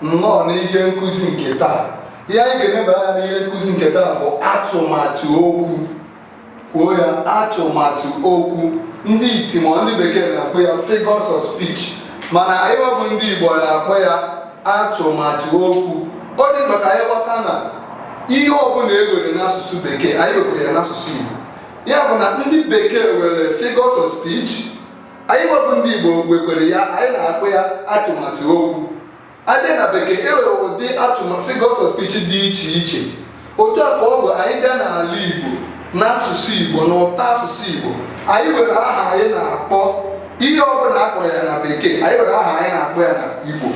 nnọọ n'ihe nkụzi nke taa ihe anyị ga-eneba anya n'ihe nkụzi nke taa bụ atụmatụ okwu kwuo ya atụmatụ okwu ndị iti ma ndị bekee na-akpọ ya figures of speech mana anyị nwa bụ ndị Igbo na-akpọ ya atụmatụ okwu ọ dị mkpa ka anyị ghọta na ihe ọbụla e were n'asụsụ bekee anyị wekwere ya n'asụsụ Igbo ya bụ na ndị bekee were figures of speech anyị nwa bụ ndị Igbo wekwere ya anyị na-akpọ ya atụmatụ okwu a bịa na bekee e nwere ụdị atụmatụ figures of speech dị iche iche otu a ka ọ bụ anyị bịa n'ala Igbo n'asụsụ Igbo na ụtọ asụsụ Igbo anyị nwere aha anyị na-akpọ ihe ọ bụla a kpọrọ ya na bekee anyị nwere aha anyị na-akpọ ya na Igbo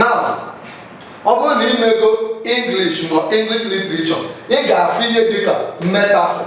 na ọ bụrụ na i mego English ma English literature ị ga-afụ ihe dịka metaphor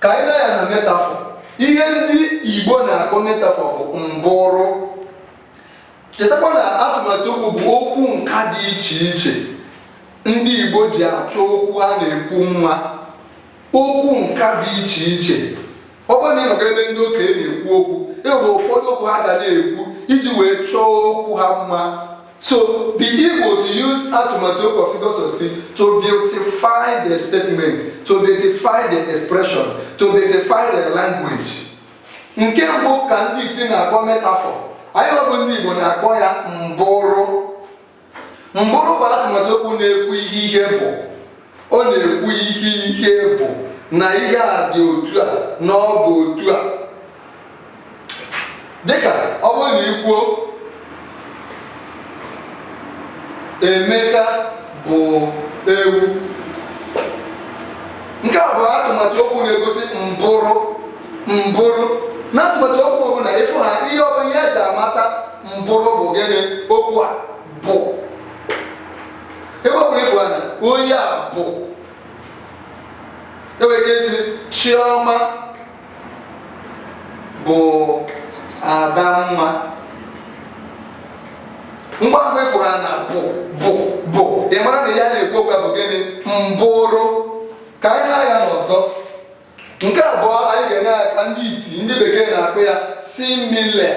ka anyị nee anya na metaphor ihe ndị igbo na-akpọ metaphor bụ mbụrụ chetakwa na atụmatụ okwu bụ okwu nka dị iche iche ndị igbo ji achọ okwu ha na-ekwu mma okwu nka dị iche iche ọ bụrụ na ị nọga ebe ndị okenye na-ekwu okwu e nwere ụfọdụ okwu ha ga na-ekwu iji wee chọọ okwu ha mma So the Igbos use atụmatụ okwu or figures of speech to beautify their statements, to beautify their expressions, to beautify their language. Nke mbụ ka ndị iti na-akpọ metaphor. Anyị nwa bụ ndị Igbo na-akpọ ya mbụrụ. Mbụrụ bụ atụmatụ okwu na-ekwu ihe ihe bụ. ọ na-ekwu ihe ihe bụ na ihe a dị otu a na ọ bụ otu a dịka ọ bụrụ na i kwuo Emeka bụ ewu nke a bụ atụmatụ okwu na-egosi mbụrụ mbụrụ na atụmatụ okwu ọbụla ị fụ ha ihe ọbụla ihe e ji amata mbụrụ bụ gịnị okwu a bụ ebe ọ bụla ị fụrụ na onye a bụ e nwere ike ịsị Chioma bụ Adamma ngwa ngwa ị fụrụ na bụ bụ bụ ị mara na ihe a na-ekwu okwu bụ gịnị mbụrụ ka anyị nee anya n'ọzọ nke abụọ anyị ga-ene anya ka ndị iti ndị bekee na-akpọ ya simile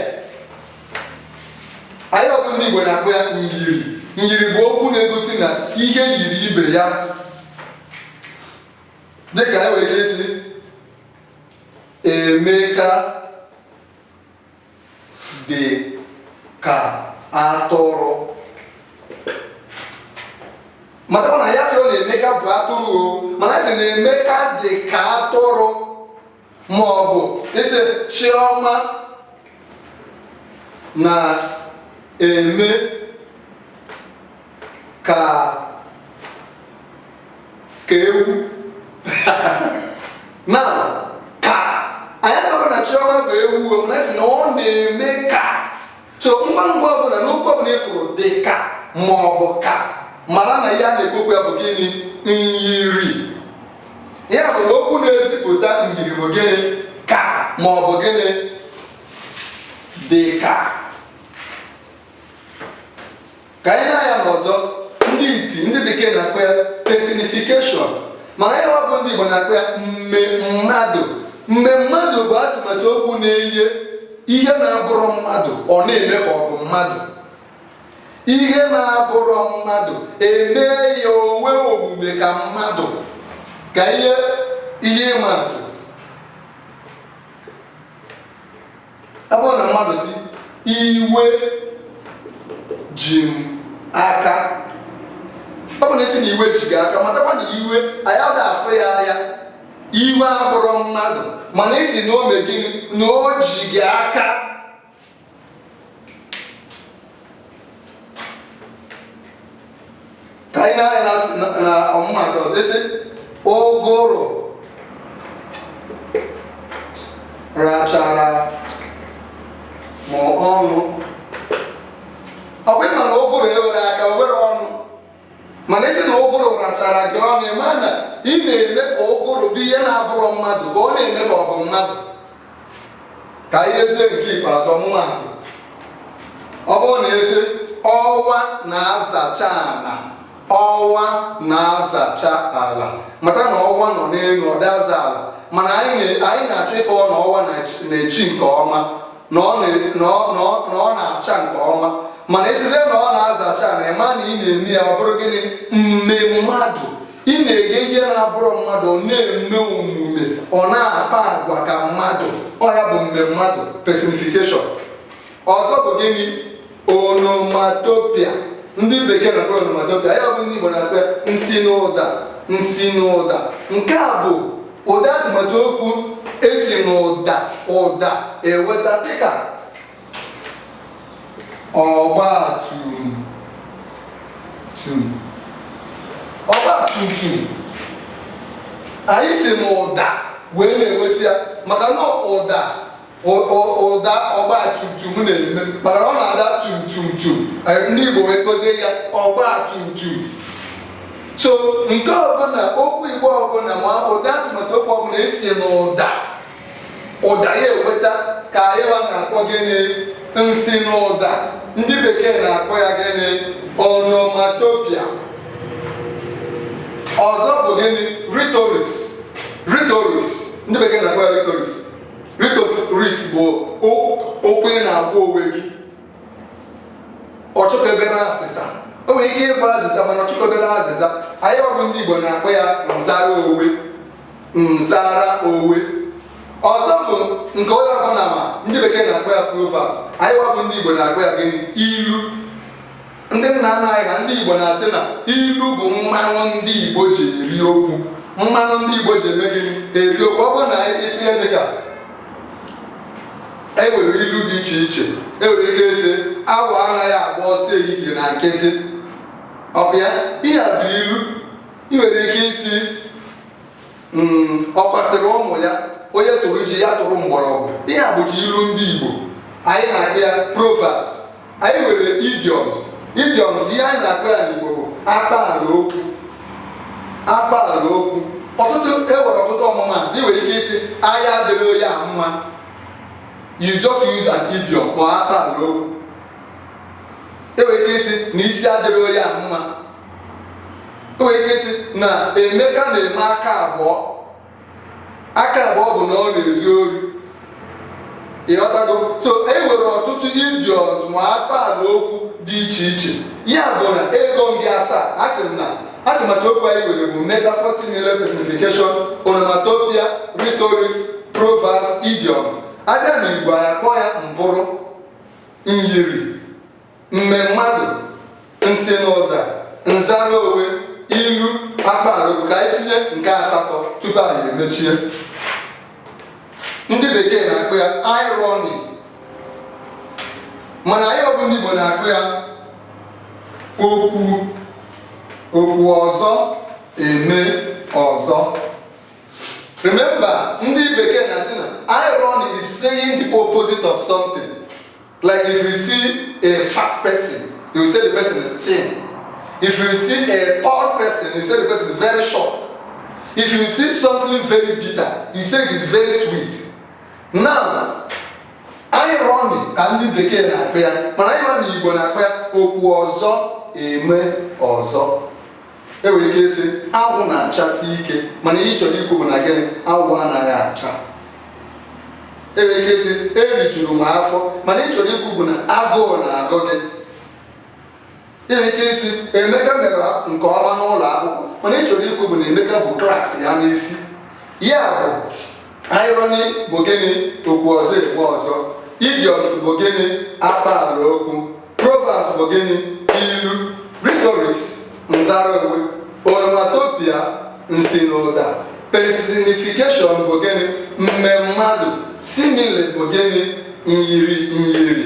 anyị nwa bụ ndị Igbo na-akpọ ya nyiri nyiri bụ okwu na-egosi na ihe yiri ibe ya dịka anyị nwere ike ịsị Emeka dị ka atụrụ matakwa na ya sịrọ na Emeka bụ atụrụ o mana ya sị na Emeka dị ka atụrụ ma ọ bụ ị sị Chiọma na-eme ka ka ewu na ka anyị asịrọ na Chiọma bụ ewu mana a sị na ọ na-eme ka so ngwa ngwa ọbụla na okwu ọbụla ị fụrụ dị ka ma ọ bụ ka mara na ihe a na-ekwu okwu ya bụ gịnị nyiri ya bụ na okwu na-ezipụta nyiri bụ gịnị ka ma ọ bụ gịnị dị ka ka anyị nee anya na ọzọ ndị iti ndị bekee na-akpọ ya personification mana anyị bụ ndị Igbo na-akpọ ya mme mmadụ mme mmadụ bụ atụmatụ okwu na-eye ihe na-abụrụ mmadụ ọ na-eme ka ọ bụ mmadụ ihe na-abụrụ mmadụ e mee ya o nwee omume ka mmadụ ka ihe ihe ịma atụ ọ bụrụ na mmadụ sị iwe ji m aka ọ bụ na ị sị na iwe ji gị aka matakwa na iwe anyị ada afụ ya anya iwe abụrụ mmadụ mana ị sị na o me gịnị na o ji gị aka ka anyị nee anya na ọmụmaatụ ọzọ a sị ụgụrụ rachara m ọnụ ọ bụ ị ma na ụgụrụ ewere aka o were ọnụ mana ị sị na ụgụrụ rachara gị ọnụ ị ma na ị na-eme ka ụgụrụ bụ ihe na-abụrụ mmadụ ka ọ na-eme ka ọ bụ mmadụ ka anyị yezie nke ikpeazụ ọmụmaatụ ọ bụrụ na a sị ọwa na-azacha ala ọwa na-azacha ala mata na ọwa nọ n'elu ọ da aza ala mana anyị na-achọ ịkọwa na ọwa na-echi nke ọma na ọ na- na ọ- na ọ- na ọ na-acha nke ọma mana a sịzie na ọ na-azacha ala ị ma na ị na-eme ya ọ bụrụ gịnị mme mmadụ ị na-eye ihe na-abụrụ mmadụ ọ na-eme omume ọ na-akpa agwa ka mmadụ ọ ya bụ mme mmadụ personification ọzọ bụ gịnị onomatopoeia ndị bekee na-akpọ onomatopoeia ya bụ ndị Igbo na-akpọ nsi n'ụda nsi n'ụda nke a bụ ụdị atụmatụ okwu e si n'ụda ụda eweta dịka ọgba tum tum ọgba tum tum anyị si n'ụda wee na-eweta ya maka na ụda ụda ọgba tum tum na-eme maka ọ na-ada tum tum tum ndị Igbo wee kpọzie ya ọgba tum tum so nke ọbụla okwu Igbo ọbụla ma ụda atụmatụ okwu ọbụla e si n'ụda ụda ya eweta ka anyị na-akpọ gịnị nsi n'ụda ndị bekee na-akpọ ya gịnị onomatopoeia ọzọ bụ gịnị rhetorics rhetorics ndị bekee na-akpọ ya rhetorics rhetorics bụ okwu ị na-agwa onwe gị ọ chọkọbere azịza o nwere ike ịbụ azịza mana ọ chọkọbere azịza anyịwa bụ ndị Igbo na-akpọ ya nzara onwe nzara onwe ọzọ bụ nke onye ọbụla ma ndị bekee na-akpọ ya proverbs anyịwa bụ ndị Igbo na-akpọ ya gịnị ilu ndị nna nna anyị ha ndị Igbo na-asị na ilu bụ mmanụ ndị Igbo ji eri okwu mmanụ ndị Igbo ji eme gịnị eri okwu ọ bụrụ na ị sị ihe dị ka e nwere ilu dị iche iche e nwere ike ịsị awọ anaghị agba ọsọ ehihie na nkịtị ọ bụ ya ihe a bụ ilu ị nwere ike ịsị Hmm, ọkwa sịrị ụmụ ya onye tụrụ ji ya tụrụ mgbọrọgwụ ihe a bụcha ilu ndị Igbo anyị na-akpọ ya proverbs anyị nwere idioms idioms ihe anyị na-akpọ ya n'Igbo bụ akpaala okwu akpaala okwu ọtụtụ e nwere ọtụtụ ọmụma ị nwere ike ịsị anya adịrị onye a mma you just use an idiom or akpaala okwu e nwere ike ịsị na isi adịrị onye a mma o nwere ike ịsị na Emeka na-eme aka abụọ aka abụọ bụ na ọ na-ezu ori ị ghọtago so e nwere ọtụtụ idioms ma akpaala okwu dị iche iche ya bụ na ego ndị asaa a sị m na atụmatụ okwu anyị nwere bụ metaphor simile personification onomatopoeia rhetorics proverbs idioms a bịa na Igbo anyị akpọ ya mbụrụ myiri mmemmadụ nsi n'ụda nzara onwe ilu akpaala okwu ka anyị tinye nke asatọ tupu anyị emechie ndị bekee na-akpọ ya irony mana anyịwa bụ ndị Igbo na-akpọ ya okwu ọzọ eme ọzọ remember ndị bekee na-asị na irony is saying the opposite of something Like if you see a fat person, you will say the person is thin. If you see a tall person, you say the person is very short. If you see something very bitter, you say it is very sweet. Now, irony ka ndị bekee na-akpọ ya mana irony Igbo na-akpọ ya okwu ọzọ eme ọzọ e nwere ike ịsị anwụ na-achasi ike mana ihe ị chọrọ ikwu bụ na gịnị anwụ anaghị acha e nwere ike ịsị erijuru m afọ mana ihe ị chọrọ ikwu bụ na agụụ na-agụ gị e nwere ike ịsị emeka mere nke ọma n'ụlọ akwụkwọ mana ihe ị chọrọ ikwu bụ na emeka bu klaasị ya n'isi ya bụ irony bụ gịnị okwu ọzọ eme ọzọ idioms bụ gịnị akpaala okwu proverbs bụ gịnị ilu rhetorics nzara onwe onomatopoeia nsinụda personification bụ gịnị mme mmadụ simile bụ gịnị nyiri nyiri